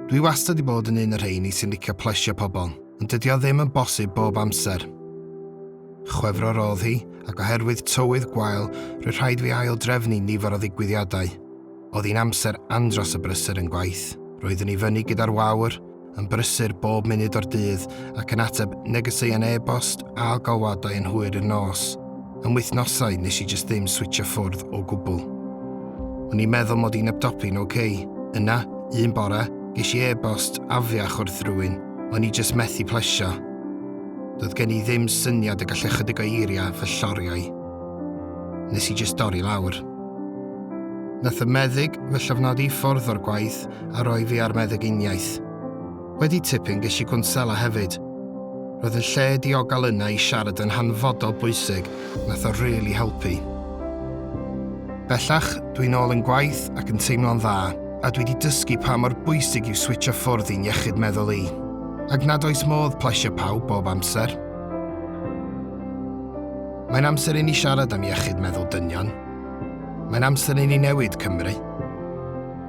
Dwi wastad i bod yn un o'r rheini sy'n licio plesio pobl, ond dydy o ddim yn bosib bob amser. Chwefror oedd hi, ac oherwydd tywydd gwael, rwy rhaid fi ail drefnu nifer o ddigwyddiadau. Oedd hi'n amser andros y brysur yn gwaith. Roeddwn i fyny gyda'r wawr, yn brysur bob munud o'r dydd ac yn ateb negeseuon e-bost a galwadau yn hwyr i'r nos. Yn wythnosau nes i jyst ddim switcho ffwrdd o gwbl. O'n i'n meddwl mod i'n abdopi'n ok. Yna, un bore, ges i e-bost afiach wrth rywun o'n i jyst methu plesio. Doedd gen i ddim syniad y gallai chydig o eiriau fy lloriau. Nes i jyst dorri lawr. Nath y meddyg fy llofnodi i ffwrdd o'r gwaith a roi fi ar meddyginiaeth. Wedi tipyn ges i gwnsela hefyd. Roedd yn lle diogel yna i siarad yn hanfodol bwysig, nath o rili helpu. Bellach, dwi'n ôl yn gwaith ac yn teimlo'n dda, a dwi di dysgu pa mor bwysig yw switsio ffwrdd i'n iechyd meddwl i. Ac nad oes modd plesio pawb bob amser. Mae'n amser i ni siarad am iechyd meddwl dynion. Mae'n amser i ni newid Cymru.